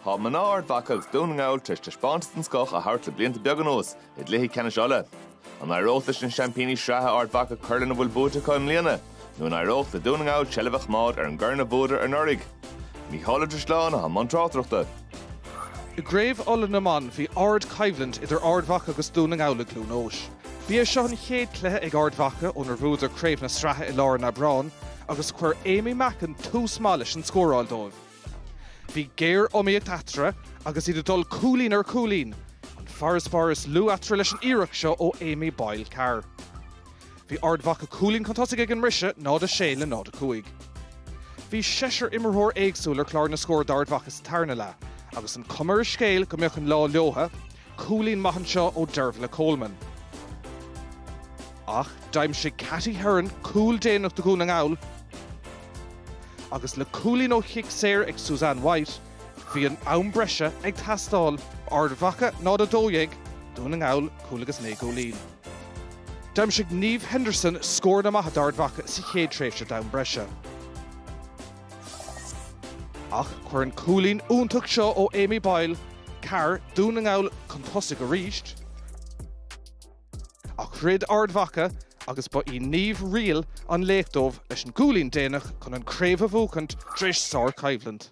Tá mná Ard Mhacha agus Dún na nGall tar éis taispeántas den scoth a thabhairt le blianta beaga anuas i gcluichí ceannais Uladh. An éireoidh leis na seaimpíní sraithe Ard Mhacha cur lena bhfuil buaite acu i mbliana, nó an éireoidh le Dún na nGall seilbh a choimeád ar an gcorn a bhuadar anuraidh? Mícheál Ó Drisleáin a bhí i mbun tráchtaireachta. I gCraobh Uladh na mban, bhí ardchoimhlint idir Ard Mhacha agus Dún na nGall i gCluain Eois. Bhí sé seo an chéad cluiche ag Ard Mhacha ónar bhuadar craobh na sraithe i lár an Aibreáin agus chuir Aimee Mackin tús maith leis an scóráil dóibh. Bhí géar-iomaíocht eatarthu agus iad ag dul cúilín ar chúilín, an farasbarr is lú eatarthu leis an iarracht seo ó Aimee Boyle Carr. Bhí Ard Mhacha cúilín chun tosaigh ag an mbriseadh, 0-6 le 0-5. Bhí seisear imirtheoir éagsúil ar chlár na scór d'Ard Mhacha sa tarna leath agus an chuma ar an scéal go mbeadh an lá leotha, Cúilín maith anseo ó Dervla Coleman. Ach d'aimsigh Katy Herron cúl déanach do Dhún na nGall agus le cúilín ó chic saor ag Susanne White, bhí an am breise ag teastáil. Ard Mhacha 0, 12 Dún na nGall, cúl agus naoi gcúilín. D'aimsigh Niamh Henderson scóranna maithe d'Ard Mhacha sa chéad tréimhse d'am breise. Ach chuir an cúilín iontach seo ó Amy Boyle Carr Dún na nGall chun tosaigh arís. Ach throid Ard Mhacha agus ba í Niamh Reel an laoch dóibh leis an gcúilín déanach chun an craobh a bhuachaint tar éis sár coimhlint.